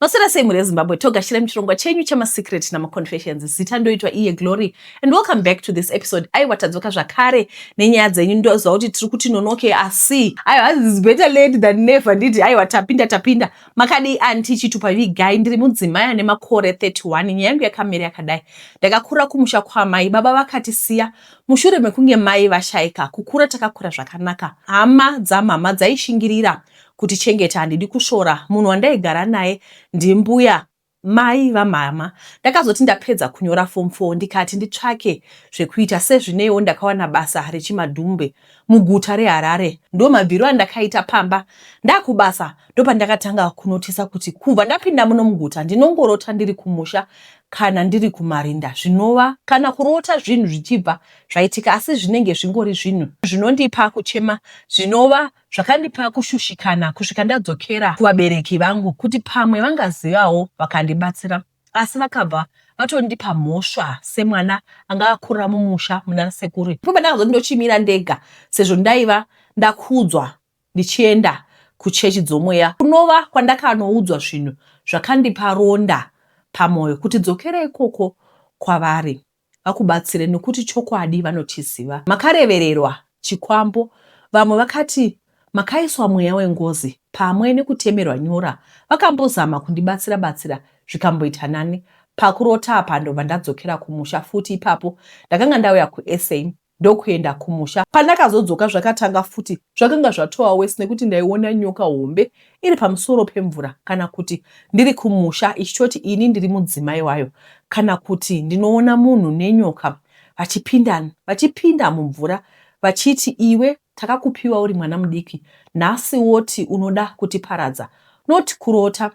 Maswera sei mhuri yezimbabwe togashira muchirongwa chenyu chemasecret namaconfessions zita ndoitwa iye glory and welcome back to this episode aiwa tadzoka zvakare nenyaya dzenyu ndoziva kuti tiri kuti nonoke asi aiwa is better late than never nditi aiwa tapinda tapinda makadii anti chitupa vigai ndiri mudzimai ane makore 31 nyaya yangu yakamira yakadai ndakakura kumusha kwamai baba vakatisiya mushure mekunge mai vashaika kukura takakura zvakanaka hama dzamama dzaishingirira kutichengeta handidi kusvora munhu wandaigara naye ndimbuya Mai vamhamha ndakazoti ndapedza kunyora form 4 ndikati nditsvake zvekuita sezvineiwo ndakawana basa rechimadhumbe muguta reHarare ndomabviro andakaita pamba ndakubasa ndopandakatanga kunotisa kuti kubva ndapinda muno muguta ndinongorota ndiri kumusha kana ndiri kumarinda zvinova kana kurota zvinhu zvichibva zvaitika asi zvinenge zvingori zvinhu zvinondipa kuchema zvinova zvakandipa kushushikana kusvika ndadzokera kuvabereki vangu kuti pamwe vangazivawo vakandibatsira asi vakabva vatondipa mhosva semwana anga akurira mumusha muna sekuru ipapo ndakazoti ndochimira ndega sezvo ndaiva ndakudzwa ndichienda kuchechi dzomweya kunova kwandakanoudzwa zvinhu zvakandipa ronda pamwoyo kuti dzokera ikoko kwavari vakubatsire nokuti chokwadi vanochiziva. Makarevererwa chikwambo vamwe vakati makaiswa mweya wengozi pamwe nekutemerwa nyora vakambozama kundibatsira batsira zvikamboita nani pakurota apa ndobva ndadzokera kumusha futi ipapo ndakanga ndauya kuSA ndokuenda kumusha. Pandakazodzoka zvakatanga futi zvakanga zvatova worse nekuti ndaiona nyoka hombe iri pamusoro pemvura kana kuti ndiri kumusha ichitoti ini ndiri mudzimai wayo kana kuti ndinoona munhu nenyoka vachipinda vachipinda mumvura vachiti iwe takakupiwa uri mwana mudiki nhasi woti unoda kutiparadza not kurota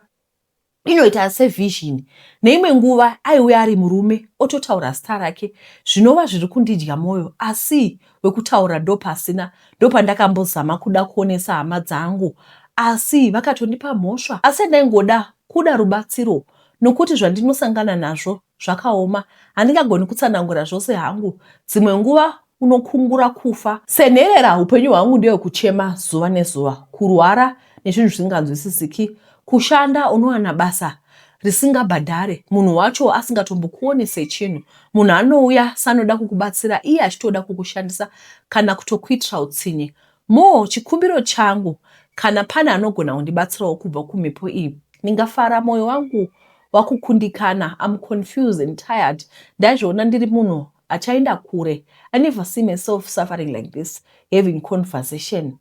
inoita sevision. Neimwe nguva aiuya ari murume ototaura zita rake zvinova zviri kundidya moyo asi wekutaura ndopasina. Ndopandakambozama kuda kuonesa hama dzangu asi vakatondipa mhosva asi yandaingoda kuda rubatsiro nokuti zvandinosangana nazvo Zvakaoma. Handingagoni kutsanangura zvose hangu. Dzimwe nguva unokungura kufa. Senherera, upenyu hwangu ndewe kuchema zuva nezuva, kurwara nezvinhu zvisinganzwisisiki, kushanda unowana basa risingabhadhare, munhu wacho asingatombokuone sechinhu. Munhu anouya sanoda kukubatsira iye achitoda kukushandisa kana kutokuitira utsinye. Mo, chikumbiro changu, kana pane anogona kundibatsirawo kubva kumhepo iyi, ndingafara mwoyo wangu wakukundikana I'm confused and tired ndazviona ndiri munhu achaenda kure I never see myself suffering like this having conversation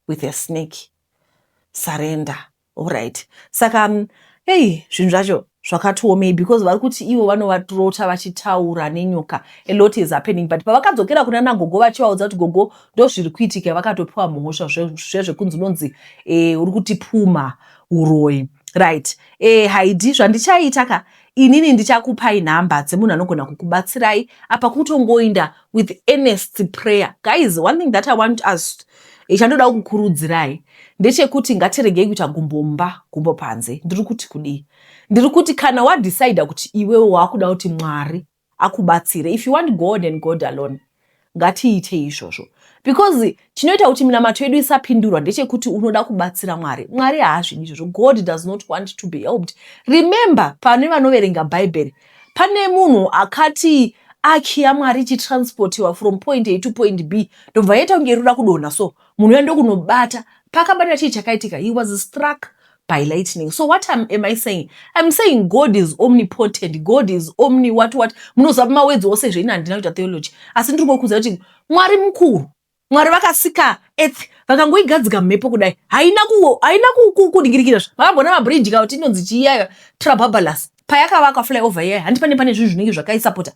with a snake surrender alright saka um, hey zvinhu zvacho zvakatiomei because vari kuti ivo vanovatrota vachitaura nenyoka a lot is happening but pavakadzokera kuna nagogo vachivaudza kuti gogo ndozviri kuitika vakatopiwa mhosva zvezvekunzi unonzi e, uri kutipumha uroyi right Eh haidi zvandichaita ka inini ndichakupai number dzemunhu anogona kukubatsirai apa kutongoinda with earnest prayer guys one thing that i want us eh, chandoda kukurudzirai ndechekuti ngatiregei kuita gumbo mumba gumbo panze ndiri kuti kudii ndiri kuti kana wadecida kuti iwewe wakuda kuti mwari akubatsire if you want God and God alone ngatiite izvozvo because chinoita kuti minamato yedu isapindurwa ndechekuti unoda kubatsira mwari mwari haazvidi izvozvo god does not want to be helped remember pane vanoverenga bhaibheri pane munhu akati aki yamwari ichitransportiwa from point a to point b ndobva yaita kunge irikuda kudonha so munhu uya ndokunobata paakabatira chii chakaitika he was struck by lightning so what am, am i saying im saying god is omnipotent god is omni what what munoziva mawedzi ose zveini handina kuita theology asi ndiri ngokuudza kuti mwari mukuru mwari vakasika earth vakangoigadzika mhepo kudai haina haina kudingirikira zva makambona mabridge ka kuti inonzi chiiyayo trababalus payakavakwa flyover iyayi handi pane pane zvinhu zvinenge zvakaisapota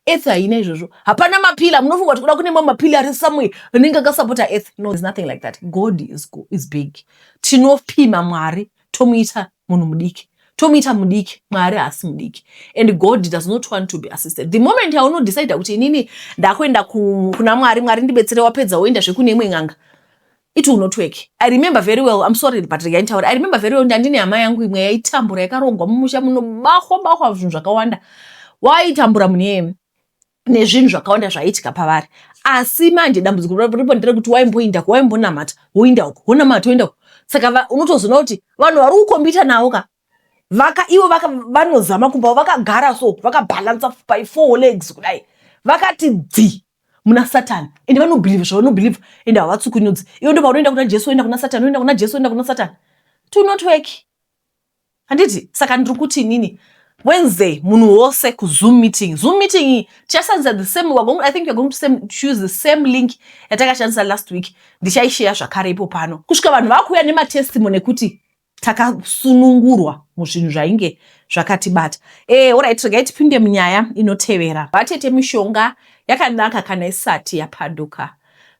earth haina izvozvo hapana mapila munofunga kuti kuda kune mamwe mapila ari somewhere anenge akasapota earth no there's nothing like that god is, is big tinopima mwari tomuita munhu mudiki tomuita mudiki mwari haasi mudiki and god does not want to be assisted the moment yaunodecide kuti inini ndakuenda kuna mwari mwari ndibetsere wapedza woenda zvekune imwe n'anga it will not work i remember very well i'm sorry but regai nditaure i remember very well kuti andine hama yangu imwe yaitambura yakarongwa mumusha munobahwa bahwa zvinhu zvakawanda waitambura munhu iyeye nezvinhu zvakawanda zvaiitika pavari asi manje dambudziko ripo ndere kuti waimboinda ko waimbonamata woinda uko wonamata woinda uko saka unotozoona kuti vanhu vari kukombita navo ka vaka ivo vaka vanozama kumba vakagara so vakabhalansa by four legs kudai vakati dzi muna satani and vanobhilivha zvavanobhilivha and havatsukunyudzi ivo ndo paunoenda kuna jesu oenda kuna satani oenda kuna jesu oenda kuna satani to not work handiti saka ndiri kuti inini wednesday munhu wose kuzoom meeting zoom meeting iyi tichashandisa the same going, i think we're going to same, choose the same link yatakashandisa last week ndichaisheya zvakare ipo pano kusvika vanhu vakuuya nematestimony ekuti takasunungurwa muzvinhu zvainge zvakatibata e, orit regai tipinde munyaya inotevera vatete mishonga yakanaka kana isati yapanduka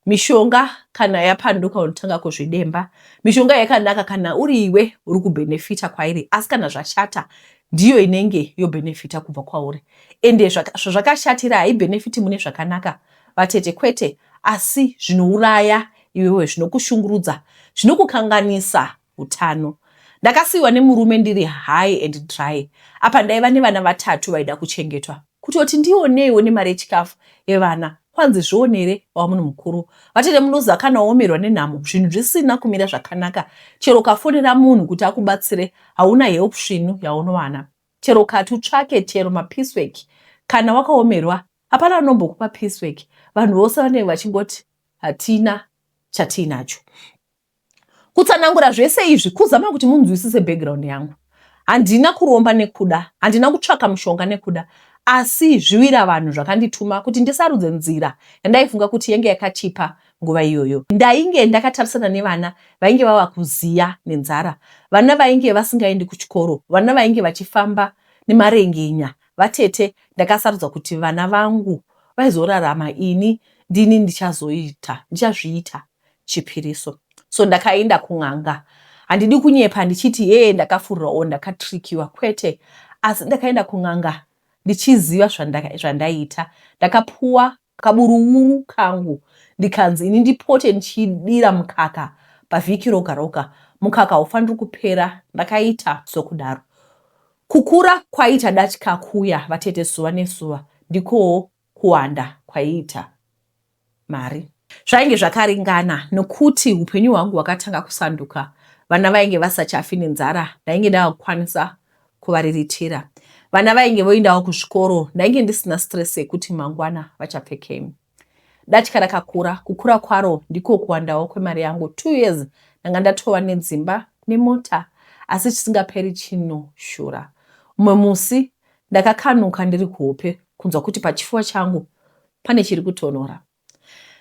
mishonga kana yapanduka unotanga kuzvidemba mishonga yakanaka kana uri iwe uri kubhenefita kwairi asi kana zvashata ndiyo inenge yobhenefita kubva kwauri ende zvazvakashatira haibhenefiti mune zvakanaka vatete kwete asi zvinouraya Iwewe zvinokushungurudza zvinokukanganisa utano. Ndakasiiwa nemurume ndiri high and dry apa ndaiva nevana vatatu vaida kuchengetwa. Kutoti ndioneiwo nemari yechikafu yevana kwanzi zvionere wava munhu mukuru. Vatete munoziva kana waomerwa nenhamo zvinhu zvisina kumira zvakanaka chero ukafonera munhu kuti akubatsire hauna help svinu yaunowana. Chero ukati utsvake chero mapiece work kana wakaomerwa hapana anombokupa piece work vanhu vose vanenge vachingoti hatina chatiinacho kutsanangura zvese izvi kuzama kuti munzwisise background yangu handina kuromba nekuda handina kutsvaka mushonga nekuda asi zviwira vanhu zvakandituma kuti ndisarudze nzira yandaifunga kuti yenge yakachipa nguva iyoyo ndainge ndakatarisana nevana vainge vava kuziya nenzara vana vainge vasingaendi kuchikoro vana vainge vachifamba nemarengenya Vatete ndakasarudza kuti vana vangu vaizorarama ini ndini ndichazoita ndichazviita chipiriso so ndakaenda kun'anga handidi kunyepa ndichiti hee ndakafurwa or ndakatrikiwa kwete asi ndakaenda kun'anga ndichiziva zvandaita ndakapuwa kaburuwuru kangu ndikanzi ini ndipote ndichidira mukaka pavhiki roga roga mukaka haufaniri kupera ndakaita sokudaro kukura kwaita datya kuya vatete zuva nezuva ndikowo kuwanda kwaiita mari zvainge zvakaringana nokuti upenyu hwangu hwakatanga kusanduka vana vainge vasachafi nenzara ndainge ndakukwanisa kuvariritira. Vana vainge voindawo kuzvikoro ndainge ndisina stress yekuti mangwana vachapfekei. Datya rakakura, kukura kwaro ndiko kuwandawo kwemari yangu. Two years ndanga ndatova nedzimba nemota asi chisingaperi chinoshura. Umwe musi ndakakanuka ndiri kuhope kunzwa kuti pachifuva changu pane chiri kutonhora.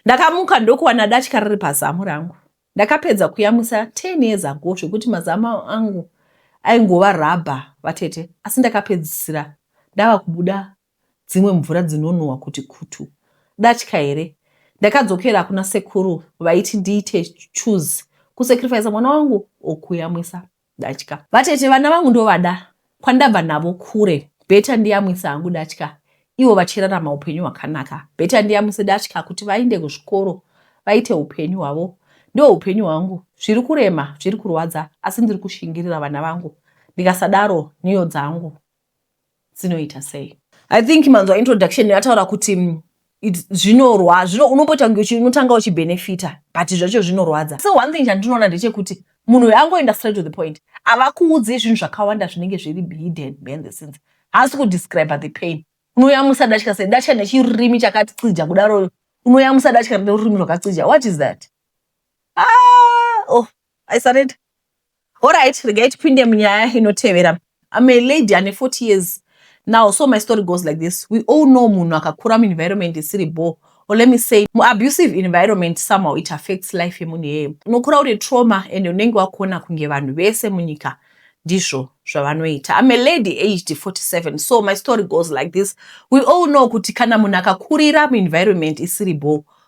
Ndakamuka ndokuwana datya riri pazamu rangu. Ndakapedza kuyamwisa 10 years ago zvekuti mazamo angu aingova rubber vatete asi ndakapedzisira ndava kubuda dzimwe mvura dzinonhuhwa kuti kutu. Datya here? Ndakadzokera kuna sekuru vaiti ndiite choose kusacrificer mwana wangu or kuyamwisa. Datya. Vatete vana vangu ndovada kwandabva navo kure better ndiyamwisa hangu datya ivo vachirarama upenyu hwakanaka better ndiyamwise datya kuti vainde kuzvikoro vaite upenyu hwavo ndo upenyu hwangu zviri kurema zviri kurwadza asi ndiri kushingirira vana vangu ndikasadaro nhiyo dzangu dzinoita sei i think manzwa introduction yataura kuti mm, zvinorwa zvino unomboita kunge unotanga uchibenefita but zvacho zvinorwadza so one thing chandinoona ndechekuti munhu uyo angoenda straight to the point avakuudzi zvinhu zvakawanda zvinenge zviri hidden behind the scenes haasi kudescribe the pain unoyamusa datya sei datya nechirurimi chakacija kudaro unoyamusa datya nerurimi rwakacija what is that ah, oh, i surrender Horait, regai tipinde munyaya inotevera. I'm a lady ane 40 years now so my story goes like this. We all know munhu akakura muenvironment isiri bho or let me say muabusive environment somehow it affects life yemunhu iyeye. Unokura uri trauma and unenge wakuona kunge vanhu vese munyika ndizvo zvavanoita. I'm a lady aged 47 so my story goes like this. We all know kuti kana munhu akakurira muenvironment isiri bho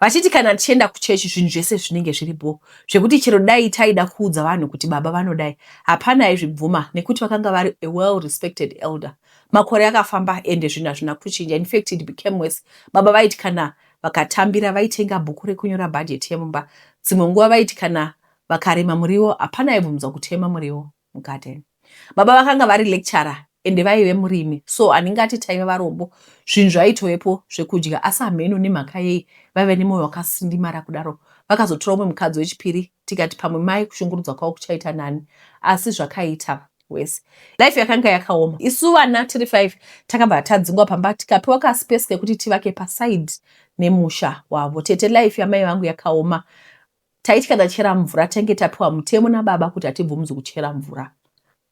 vachiti kana tichienda kuchechi zvinhu zvese zvinenge zviri bho zvekuti chero dai taida kuudza vanhu kuti baba vanodai hapana aizvibvuma nekuti vakanga vari a well respected elder makore akafamba ende zvinhu hazvina kuchinja infact it became worse baba vaiti kana vakatambira vaitenga bhuku rekunyora bhajeti yemumba dzimwe nguva vaiti kana vakarima muriwo hapana aibvumidza kutema muriwo mugarden baba vakanga vari lecturer ende vaive murimi so handingati taive varombo zvinhu zvaitovepo zvekudya asi hameno nemhaka yei vaive nemoyo wakasindimara kudaro vakazotora umwe mukadzi wechipiri tikati pamwe mai kushungurudzwa kwavo kuchaita nani asi zvakaita wese life yakanga yakaoma isu vana tiri five takabva tadzingwa pamba tikapiwa kaspace kekuti tivake paside nemusha wavo tete life yamai vangu yakaoma Taitya tachera mvura tange tapiwa mutemo nababa kuti hatibvumzi kuchera mvura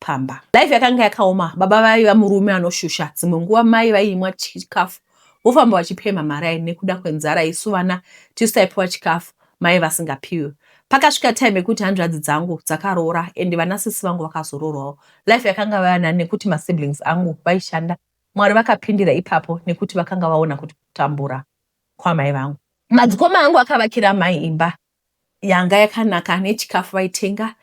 pamba. Life yakanga yakaoma, baba vaiva murume anoshusha. Dzimwe nguva mai vaiimwa chikafu vofamba vachipemha marai nekuda kwenzara isu vana tisu taipiwa chikafu mai vasingapiwe. Pakasvika time yekuti hanzvadzi dzangu dzakaroora and vana sisi vangu vakazoroorwawo. Life yakanga vaya nani nekuti masiblings angu vaishanda. Mwari vakapindira ipapo nekuti vakanga vaona kuti kutambura. kwamai vangu. Madzikoma angu akavakira mai imba yanga yakanaka nechikafu vaitenga.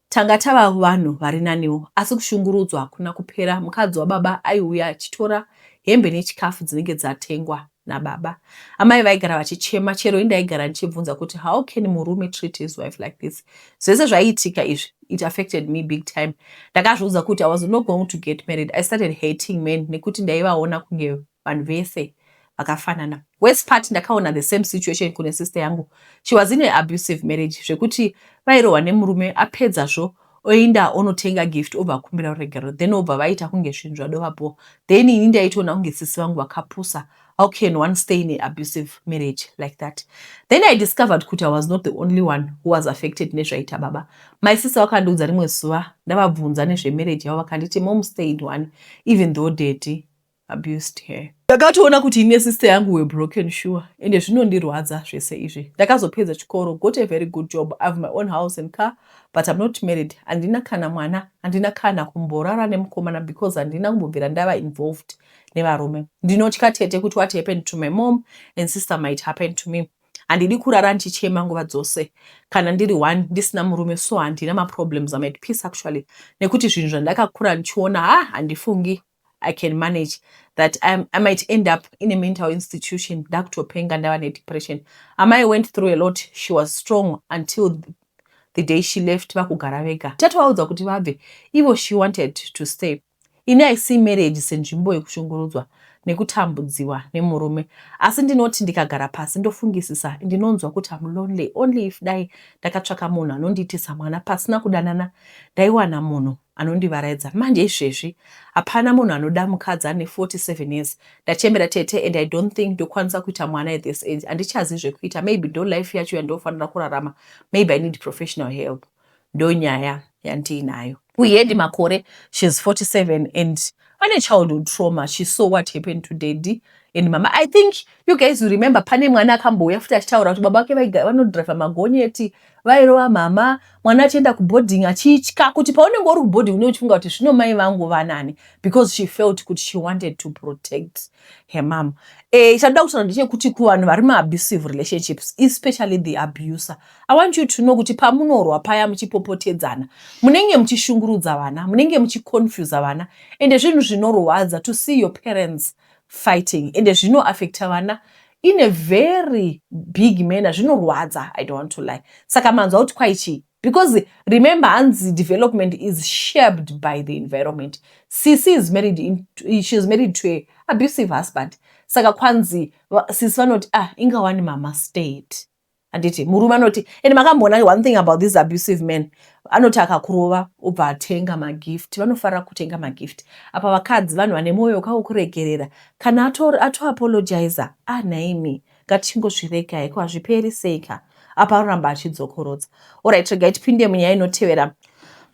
Tanga tava vanhu vari naniwo asi kushungurudzwa hakuna kupera. Mukadzi wababa aiuya achitora hembe nechikafu dzinenge dzatengwa nababa. Amai vaigara vachichema chero indaigara ndichibvunza kuti how can murume treat his wife like this. Zvese zvaiitika izvi it affected me big time. Ndakazviudza kuti I was not going to get married. I started hating men nekuti ndaivaona kunge vanhu vese vakafanana worse part ndakaona the same situation kune sister yangu she was in a abusive marriage zvekuti vairohwa nemurume apedza zvo oenda onotenga gift obva akumbira ruregerero then obva vaita kunge zvinhu zvadova bho then ini ndaitoona kunge sisi vangu vakapusa how can one stay in a abusive marriage like that then i discovered kuti i was not the only one who was affected nezvaita baba my sister vakandiudza rimwe zuva ndavabvunza nezvemarriage yavo vakanditi mom stayed one even though daddy abused her. Ndakatoona kuti ini nesister yangu were broken sure ende zvinondirwadza zvese izvi. Ndakazopedza chikoro, got a very good job, I have my own house and car but I'm not married, handina kana mwana, handina kana kumborara nemukomana because handina kumbobvira ndava involved nevarume. Ndinotya tete kuti what happened to my mom and sister might happen to me. Handidi kurara ndichichema nguva dzose kana ndiri one ndisina murume so handina maproblems, I'm at peace actually nekuti zvinhu zvandakakura ndichiona ha handifungi I can manage that I, I might end up in a mental institution ndakutopenga ndava nedepression amai went through a lot she was strong until the day she left vakugara vega tatovaudza kuti vabve ivo she wanted to stay ini i see marriage senzvimbo yekushungurudzwa nekutambudziwa nemurume asi ndinoti ndikagara pasi ndofungisisa ndinonzwa kuti am lonely only if dai ndakatsvaka munhu anondiitisa mwana pasina kudanana ndaiwana munhu anondivaraidza manje izvezvi hapana munhu anoda mukadzi ane 47 years ndachembera tete and i don't think ndokwanisa kuita mwana at this age handichazi zvekuita maybe ndo life yacho yandofanira kurarama maybe i need professional help ndo nyaya yandiinayo kuhedi makore shes 47 and pane childhood trauma she saw what happened to daddy and mama i think you guys you remember pane mwana akambouya futi achitaura kuti baba vake vanodriver magonyeti like, Vairova mama mwana achienda kuboarding achitya kuti paunenge uri kuboarding unenge uchifunga kuti zvino mai vangu vanani because she felt kuti she wanted to protect her mom. Eh, ichada kutaura ndechekuti kuvanhu vari muabusive relationships especially the abuser I want you to know kuti pamunorwa paya muchipopotedzana munenge muchishungurudza vana, munenge muchiconfusa vana ende zvinhu zvinorwadza to see your parents fighting ende zvino affecta vana in a very big manner zvinorwadza i don't want to lie saka manzwa kuti kwai chii because remember hanzi development is shaped by the environment cc is married in, she is married to a abusive husband saka kwanzi sisi vanoti ah ingawani mama state handiti murume anoti and makamboona one thing about this abusive man anoti akakurova obva atenga magift vanofarira kutenga magift apa vakadzi vanhu vane mwoyo wekaukuregerera kana atoapologizer ato ah nhaimi ngatichingozvirega heko hazviperi sei ka apa anoramba achidzokorodza orit regai tipinde munyaya inotevera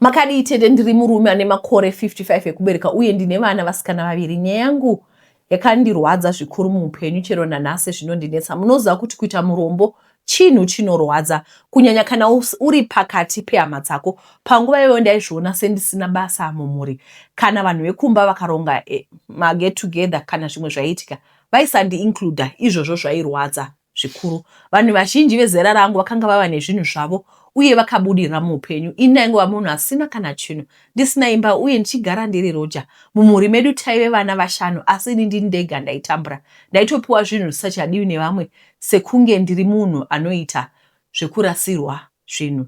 makadii tete ndiri murume ane makore 55 ekubereka uye ndine vana vasikana vaviri nyaya yangu Yakandirwadza zvikuru muupenyu chero nanhasi zvinondinetsa. Munoziva kuti kuita murombo chinhu chinorwadza kunyanya kana uri pakati pehama dzako. Panguva iyoyo ndaizviona sendisina basa mumhuri. Kana vanhu vekumba vakaronga eh, maget together kana zvimwe zvaiitika, vaisandiincluda. Izvozvo zvairwadza. zvikuru. Vanhu vazhinji vezera rangu vakanga vava nezvinhu zvavo uye vakabudirira muupenyu. Ini ndaingova munhu asina kana chinhu, ndisina imba uye ndichigara ndiri roja. Mumhuri medu taive vana vashanu asi ini ndini ndega ndaitambura. Ndaitopiwa zvinhu zvisachadiwi nevamwe sekunge ndiri munhu anoita zvekurasirwa zvinhu.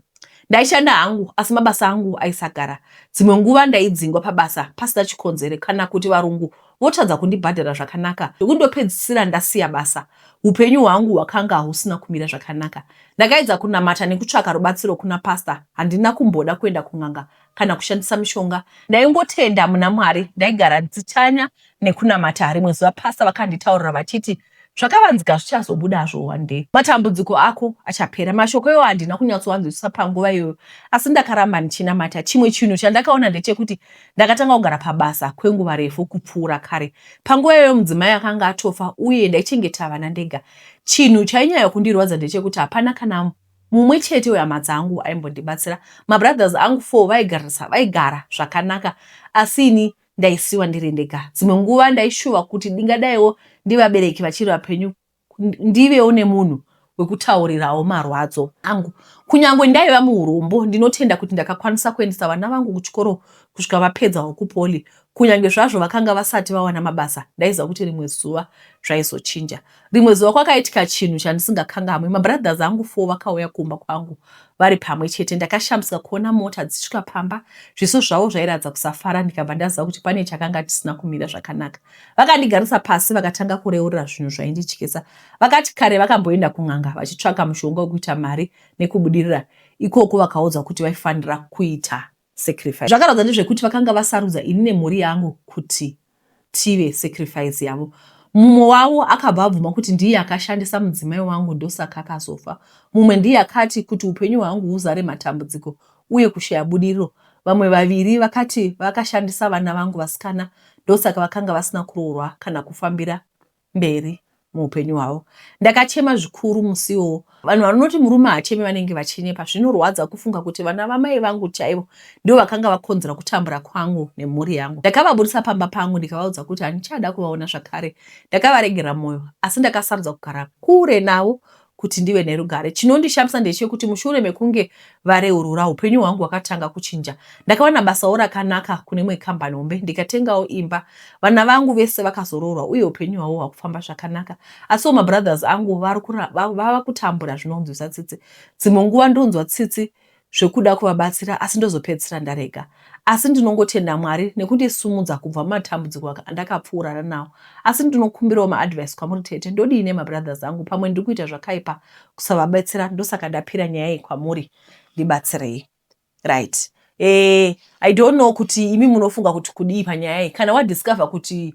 Ndaishanda hangu asi mabasa angu aisagara. Dzimwe nguva ndaidzingwa pabasa pasina chikonzero kana kuti varungu votadza kundibhadhara zvakanaka zvekundopedzisira ndasiya basa. Upenyu hwangu hwakanga husina kumira zvakanaka. Ndakaedza kunamata nekutsvaka rubatsiro kuna pastor. Handina kumboda kuenda kun'anga kana kushandisa mishonga. Ndaingotenda muna Mwari. Ndaigara ndichitsanya nekunamata. Rimwe zuva pastor vakanditaurira vachiti Zvakavanzika zvichazobudazvo one day. Matambudziko ako achapera. Mashoko iwayo handina kunyatsoanzwisisa panguva iyoyo asi ndakaramba ndichinamata. Chimwe chinhu chandakaona ndechekuti ndakatanga kugara pabasa kwenguva refu kupfuura kare. Panguva iyoyo mudzimai akanga atofa uye ndaichengeta vana ndega. Chinhu chainyaya kundirwadza ndechekuti hapana kana mumwe chete wehama dzangu aimbondibatsira. Mabrothers angu four vaigara zvakanaka asi ini ndaisiwa ndiri ndega dzimwe nguva ndaishuva kuti ndingadaiwo ndivabereki vachiri vapenyu ndivewo nemunhu wekutaurirawo marwadzo angu kunyange ndaiva muurombo ndinotenda kuti ndakakwanisa kuendesa vana vangu kuchikoro kusvika vapedzawo kupoli kunyange zvazvo vakanga vasati vawana mabasa ndaiziva kuti rimwe zuva zvaizochinja Rimwe zuva kwakaitika chinhu chandisingakangamwi. Mabrothers angu four vakauya kumba kwangu vari pamwe chete. Ndakashamisika kuona mota dzichisvika pamba. Zviso zvavo zvairatidza kusafara ndikabva ndaziva kuti pane chakanga chisina kumira zvakanaka. Vakandigarisa pasi vakatanga kureurira zvinhu zvaindityisa. Vakati kare vakamboenda kun'anga vachitsvaka mushonga wekuita mari nekubudirira ikoko vakaudzwa kuti vaifanira kuita sacrifice. Zvakarwadza ndezvekuti vakanga vasarudza ini nemhuri yangu kuti tive sacrifice yavo. Mumwe wavo akabva abvuma kuti ndiye akashandisa mudzimai wangu ndosaka akazofa. Mumwe ndiye akati kuti upenyu hwangu huzare matambudziko uye kushaya budiriro. Vamwe vaviri vakati vakashandisa vana vangu vasikana ndosaka vakanga vasina kuroorwa kana kufambira mberi muupenyu hwavo. Ndakachema zvikuru musi iwowo. Vanhu vanoti murume haacheme vanenge vachinyepa. Zvinorwadza kufunga kuti vana vamai vangu chaivo ndivo vakanga vakonzera kutambura kwangu nemhuri yangu. Ndakavaburitsa pamba pangu ndikavaudza kuti handichada kuvaona zvakare. Ndakavaregera moyo asi ndakasarudza kugara kure navo kuti ndive nerugare. Chinondishamisa ndechekuti mushure mekunge vareurura, upenyu hwangu hwakatanga kuchinja. Ndakawana basawo rakanaka kune imwe kambani hombe ndikatengawo imba. Vana vangu vese vakazoroorwa uye upenyu hwavo hwakufamba zvakanaka. Asiwo mabrothers angu vava kutambura zvinonzwisa tsitsi. Dzimwe nguva ndonzwa tsitsi zvekuda kuvabatsira asi ndozopedzisira ndarega asi ndinongotenda Mwari nekundisimudza kubva mumatambudziko andakapfuurana nawo asi ndinokumbirawo maadvice kwamuri tete ndodii nemabrothers angu pamwe ndiri kuita zvakaipa kusavabetsera ndosaka ndapira nyaya iyi kwamuri ndibatsirei right eh, i don't know kuti imi munofunga kuti kudii panyaya iyi kana wadiscover kuti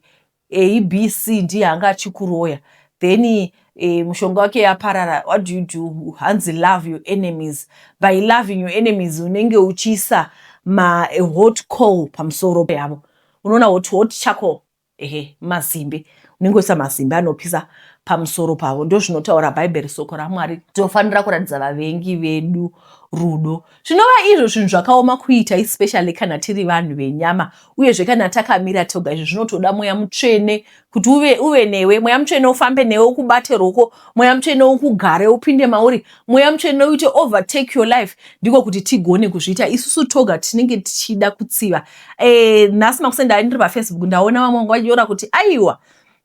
abc ndiye anga achikuroya then e, mushonga wake yaparara what do you do hanzi love your enemies by loving your enemies unenge uchiisa ma a hot coal pamusoro yavo unoona hot hot charcoal ehe mazimbe unenge uchiisa mazimbe anopisa pamusoro pavo ndozvinotaura bhaibheri soko ramwari tinofanira kuratidza vavengi vedu rudo Zvinova izvo zvinhu zvakaoma kuita especially kana tiri vanhu venyama uyezve kana takamira toga izvi zvinotoda mweya mutsvene kuti uve, uve newe mweya mutsvene ufambe newe ukubate roko mweya mutsvene ukugare upinde mauri mweya mutsvene uite overtake your life ndiko kuti tigone kuzviita isusu toga tinenge tichida kutsiva e, nhasi makusendai ndiri pafacebook ndaona vamwe vanga vanyora kuti aiwa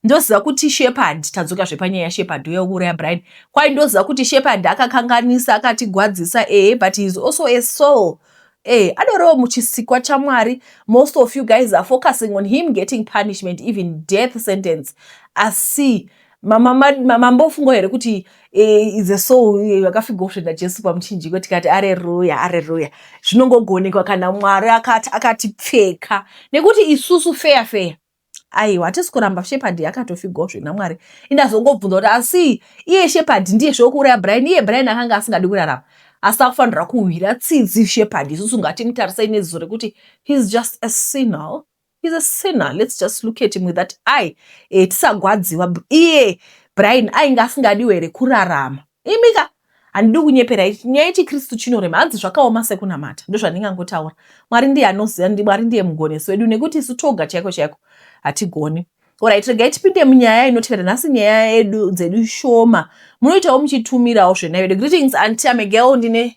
ndoziva kuti shepherd tadzoka zvepanyaya shepherd uya wekuuraya brian kwai ndoziva kuti shepherd akakanganisa akatigwadzisa ehe but heis also a soul ehe adorewo muchisikwa chamwari most of you guys are focusing on him getting punishment even death sentence asi mambofungo here kuti eh, is a soul yakafigawo eh, svenda jesu pamuchinjiko tikati areruya areruya zvinongogonekwa kana mwari akati pfeka nekuti isusu feya feya aiwa hatisi kuramba shepard yakatofigwawo zvina mwari indazongobvunza kuti asi iye shepard ndiye zvokuuraya brian iye brian akanga asingadi kurarama asi akufanira kuhwira tsitsi shepard isusu ngatimutarisai neziso rekuti heis just a sinal heis a sinal lets just look at him with that eye e, tisagwadziwa iye brian ainge asingadiwo here kurarama imi ka handidi kunyepera ichi nyaya yechikristu chinorema hanzi zvakaoma sekunamata ndozvandingangotaura mwari ndiye anoziva ndi mwari ndiye mugonesi wedu nekuti isu toga chaiko chaiko hatigoni orit regai tipinde munyaya inotevera nhasi nyaya yedu dzedu shoma munoitawo muchitumirawo zvenaivedu greetings anti amegel ndine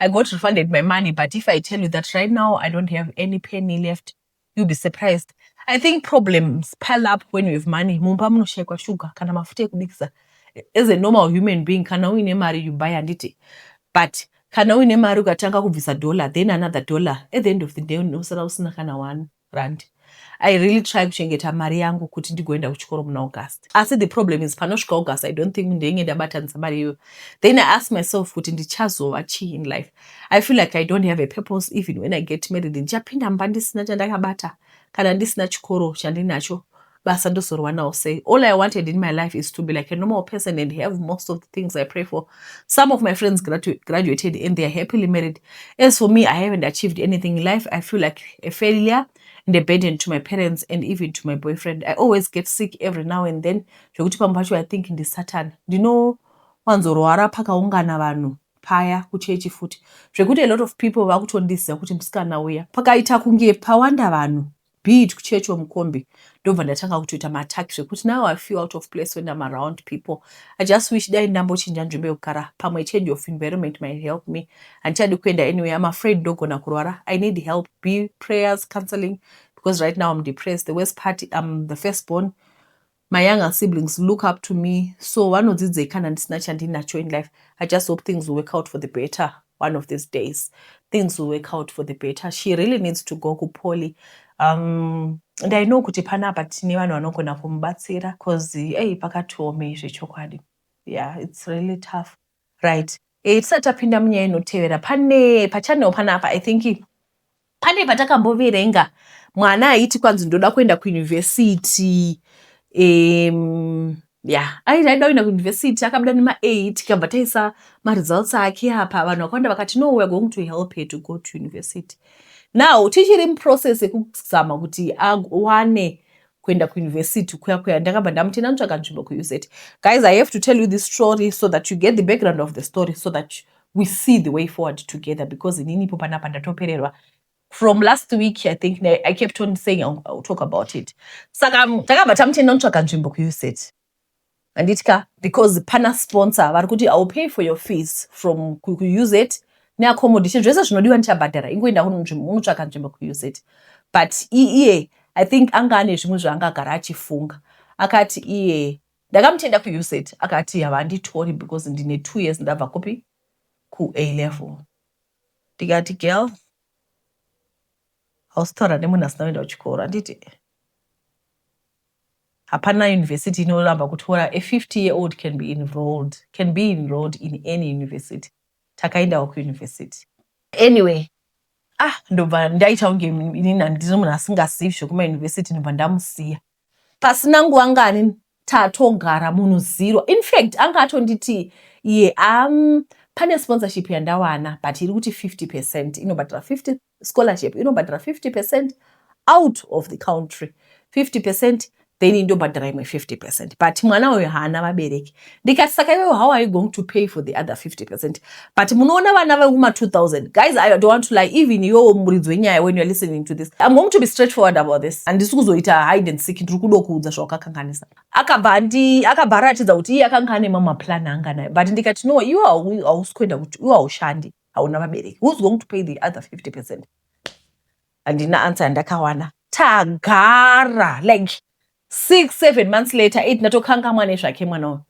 I got refunded my money but if I tell you that right now I don't have any penny left you'll be surprised. I think problems pile up when you have money. Mumba munoshaikwa sugar kana mafuta ekubikisa. As a normal human being kana uine mari you buy handiti. But kana uine mari ukatanga kubvisa dollar then another dollar at the end of the day unosara usina kana one. rand I really try kuchengeta mari yangu kuti ndigoenda kuchikoro muna August asi the problem is panosvika August I don't think ndenge ndabatanisa mari iyoyo then I ask myself kuti ndichazova chii in life I feel like I don't have a purpose even when I get married ndichapinda mba ndisina chandakabata kana ndisina chikoro chandinacho basa ndozorwanawo sei all i wanted in my life is to be like a normal person and have most of the things i pray for some of my friends gradu graduated and they are happily married as for me i haven't achieved anything in life i feel like a failure and a burden to my parents and even to my boyfriend i always get sick every now and then zvekuti pamwe pacho i think ndisatan ndinowanzorwara pakaungana vanhu paya kuchechi futi zvekuti a lot of people vakutondiziva kuti musikana uya pakaita kunge pawanda vanhu be it kuchurch or mukombi ndobva ndatanga kutoita maattack zvekuti now i feel out of place when im around people i just wish dai ndambochinja nzvimbo yekugara pamwe change of environment might help me handichadi kuenda anyway im afraid ndogona kurwara i need help be prayers counseling because right now im depressed the worst part im the first born My younger siblings look up to me so vanodzidzei kana ndisina chandinacho in life I just hope things will work out for the better one of these days things will work out for the better she really needs to go kupoly um, and I know kuti panapa tine vanhu vanogona kumubatsira cause ei pakatiomei zvechokwadi yeah it's really tough right e, tisati tapinda munyaya inotevera pane pachanel panapa i think pane patakamboverenga mwana aiti kwanzi ndoda kuenda kuyunivhesiti um, ya aiti aida kuenda kuyunivhesiti akabuda nemaei tikabva taisa maresults ake apa vanhu vakawanda vakati no weare going to help her to go to university now tichiri muprocess yekuzama kuti awane kuenda kuuniversity kuya kuya ndakabva ndamuti ndanotsvaga nzvimbo kuuz guys i have to tell you this story so that you get the background of the story so that we see the way forward together because inini ipo panapa ndatopererwa from last week i think i kept on saying I'll, I'll talk about it saka takabva tamuti ndanotsvaga nzvimbo kuuz handiti ka because pana sponsor vari kuti iwill pay for your fees from kuuz neaccommodation zvese zvinodiwa ndichabhadhara ingoenda unotsvaka nzvimbo kuuz but iye i think anga ane zvimwe zvaanga agara achifunga akati iye ndakamutenda kuuz akati havanditori because ndine two years ndabva kupi kua level ndikati girl hausi taura nemunhu asina kuenda kuchikoro handiti Hapana university inoramba kutora a 50 year old can be enrolled can be enrolled in any university takaendawo kuuniversity anyway ah ndobva ndaita kunge inini handiri munhu asingazivi zvekumauniversity ndobva ndamusiya pasina nguva ngani tatogara munhu zero infact anga atonditi iye am pane sponsorship yandawana but iri kuti 50 percent inobatira 50 scholarship inobhadhara 50 percent out of the country 50 percent then indobhadhara imwe 50 percent but mwana uyo haana vabereki ndikati saka iwewe how are you going to pay for the other 50 percent but munoona vana vekuma 2000 guys i don't want to lie even iwewo muridzi wenyaya when you're listening to this i'm going to be straight forward about this handisi kuzoita hide and seek ndiri kudo kuudza zvawakakanganisa akabva andi akabva aratidza kuti iye akanga ane mamaplan anga nayo but ndikati no iwe hausi kuenda kuti iwe haushandi hauna vabereki who's going to pay the other 50 percent handina answer yandakawana tagara like six seven months later eight ndatokangamwa nezvake mwana uyu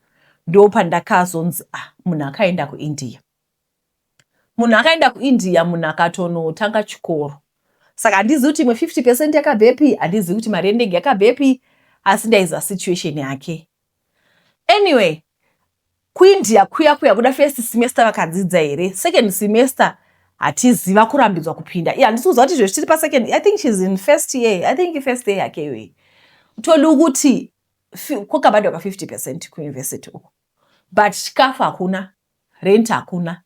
ndo pandakazonzi ah munhu akaenda kuindia munhu akaenda kuindia munhu akatonotanga chikoro saka handizivi kuti imwe 50 percent yakabvepi handizivi kuti mari yendege yakabvepi asi ndaiziva situation yake Anyway, kuIndia kuya kuya kuda first semester vakadzidza here? Second semester hatizi vakurambidzwa kupinda. Iya handisi kuziva kuti izvezvi tiri pasecond. I think she's in first year. I think first year yake iyoyi. Todi kuti kwakabhadhwa ka 50 percent kuuniversity uko. But chikafu hakuna, rent hakuna.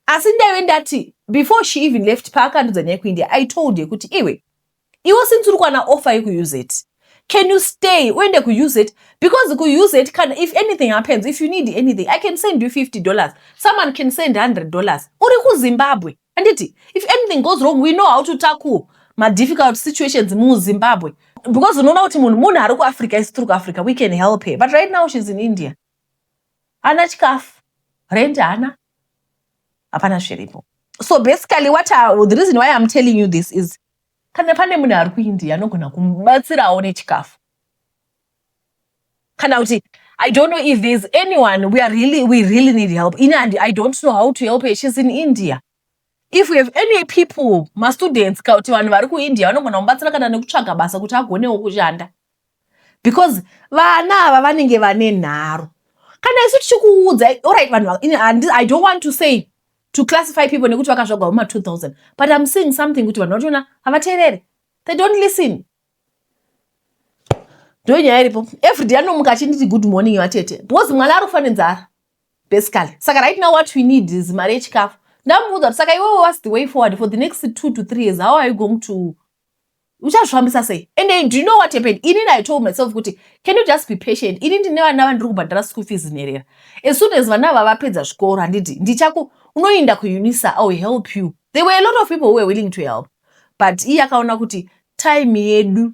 Asi ndaive ndati before she even left paakandudza nyaya kuIndia, I told her kuti iwe iwo since uri kwana offer yekuuz can you stay uende kuuz because kuuz kana if anything happens if you need anything i can send you 50 dollars someone can send 100 dollars uri kuzimbabwe anditi if anything goes wrong we know how to tackle madifficult situations muzimbabwe because unoona kuti munhu munhu ari kuafrica isi tiri kuafrica we can help her but right now she's in india ana chikafu rent hana hapana zviripo so basically what I, the reason why i'm telling you this is Kana pane munhu ari kuIndia anogona kumubatsirawo nechikafu kana kuti I don't know if there's anyone we are really we really need help in and I don't know how to help her she's in India if we have any people mastudents ka kuti vanhu vari kuIndia vanogona kumubatsira kana nekutsvaga basa kuti agonewo kushanda because vana ava vanenge vane nharo kana isu tichikuudza orit vanhu i don't want to say to classify people nekuti vakazvagwa huma 2000 but im seeing something kuti vanhu vachona havateerere they don't listen ndo nyaya iripo everyday anomuka achinditi good morning vatete because mwana ari kufa nenzara basically saka right now what we need is mari yechikafu ndamuudza kuti saka iwewe was the way forward for the next two to three years how are you going to uchazvifambisa sei and I, do you know what happened ini I told myself kuti can you just be patient ini ndine vana vandiri kubhadhara school fees nherera as soon as vana ava vapedza zvikoro handiti ndichaku unoinda kuunisa i will help you there were a lot of people who were willing to help but iye akaona kuti time yedu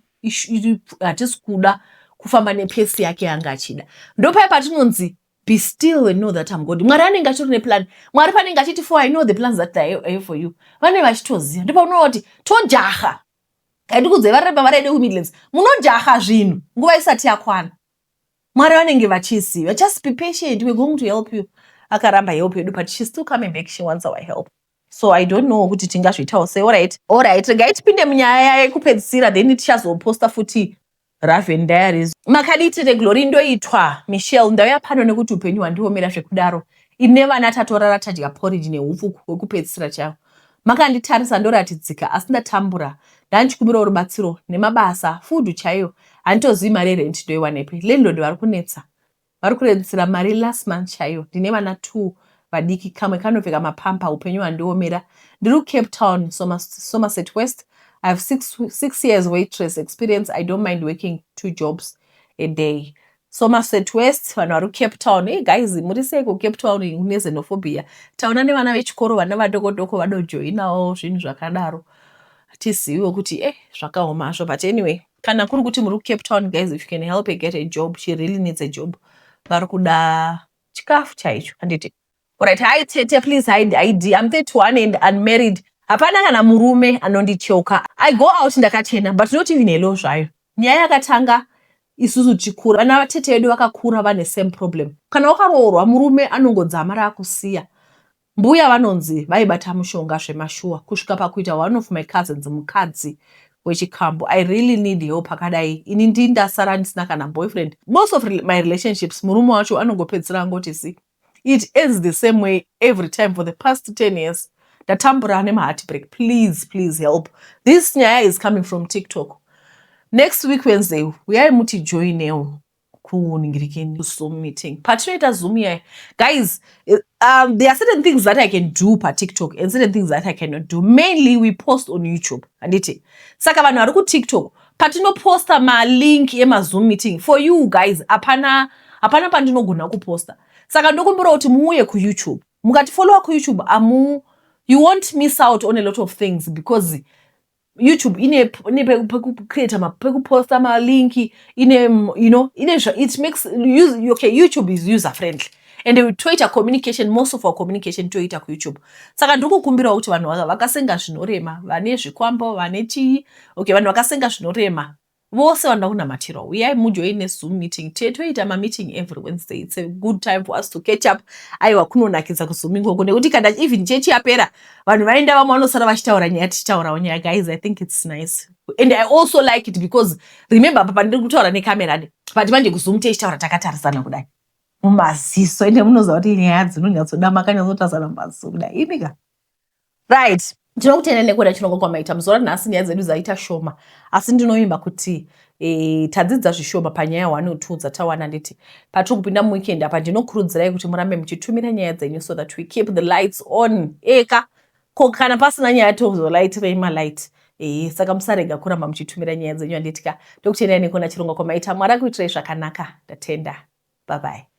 hatisi kuda kufamba nepesi yake yanga achida ndopaye patinonzi be still and know that am god mwari anenge achitori neplan mwari panenge achiti for i know the plans that i have for you vanenge vachitoziva ndipo unoona kuti tojaha handikudzai vari repa vari ede kumidlands munojaha zvinhu nguva isati yakwana mwari vanenge vachiziva just be patient we're going to help you akaramba help yedu but she's still coming back she wants our help so i don't know kuti tingazviitawo sei orit orit regai tipinde munyaya yekupedzisira then tichazoposta futi Raven Diaries. Makadii tete Glory ndoitwa Michelle ndauya pano nekuti upenyu hwandiomera zvekudaro ini nevana tatorara tadya porridge nehupfu hwekupedzisira chaiwo makanditarisa ndoratidzika asi ndatambura ndandichikumirawo rubatsiro nemabasa food chaiyo handitozivi mari yerent ndoiwanepi landlord vari kunetsa Vari kuredzera mari last month chaiyo. Ndine vana two vadiki kamwe kanopfeka mapamper upenyu hwandiomera. Ndiri kuCape Town, Somerset West. I have six, six years waitress experience. I don't mind working two jobs a day. Somerset West, vanhu vari kuCape Town. Hey guys, muri sei kuCape Town kune xenophobia? Taona nevana vechikoro vana vadoko doko vadojoinawo zvinhu zvakadaro. Tiziviwo kuti eh zvakaoma hazvo but anyway. Kana kuri kuti muri kuCape Town guys if you can help her get a job she really needs a job vari kuda chikafu chaicho handiti orit hai tete please hide id im 31 and unmarried hapana kana murume anondicheuka i go out ndakachena but not even helo zvayo nyaya yakatanga isusu tichikura vana vatete vedu vakakura vane same problem kana wakaroorwa murume anongodzamara akusiya Mbuya vanonzi vaibata mushonga zvemashuwa kusvika pakuita one of my cousins mukadzi wechikambo i really need help akadai ini ndi ndasara ndisina kana boyfriend most of my relationships murume wacho anongopedzisira angoti zi it ends the same way every time for the past 10 years ndatambura nemaheartbreak please please help this nyaya is coming from tiktok next week wednesday uyai mutijoinewo kuningirikeni zoom meeting patinoita zoom iya guys eh, um, there are certain things that i can do patiktok and certain things that i cannot do mainly we post on youtube handiti saka vanhu vari kutiktok patinoposta malink emazoom meeting for you guys hapana hapana pandinogona kuposta saka ndokumbira kuti muuye kuyoutube mukatifollowa kuyoutube amu you won't miss out on a lot of things because YouTube ine ine pekucreate ma pekuposta ma link ine you know ine it makes use okay YouTube is user friendly and toita communication most of our communication toita kuyoutube saka ndiri kukumbirawo kuti vanhu vakasenga zvinorema vane zvikwambo vane chii okay vanhu vakasenga zvinorema Vose vanoda kunamatirwa uyai mujoin nezoom meeting tiye toita mameeting every wednesday its a good time for us to catch up aiwa kunonakidza kuzoom ikoko nekuti kana even chechi yapera vanhu vaenda vamwe vanosara vachitaura nyaya tichitaurawo nyaya guys i think its nice and i also like it because remember apa pandiri kutaura necamera de but manje kuzoom tichitaura takatarisana kudai mumaziso ende munoziva kuti nyaya dzinonyatsoda makanyatsotarisana mumaziso kudai imika right ndinokutenda nekuda chirongwa kwamaita muzuva ranhasi nyaya dzedu dzaita shoma asi ndinovimba kuti e, tadzidza zvishoma panyaya one or two dzatawana nditi patiri kupinda muweekend apa ndinokurudzirai kuti murambe muchitumira nyaya dzenyu so that we keep the lights on eka ko kana pasina nyaya tozolaitirei malight e, saka musarega kuramba muchitumira nyaya dzenyu anditi ka ndokutendai nekuona chirongwa kwamaita mwari akuitirai zvakanaka ndatenda bye bye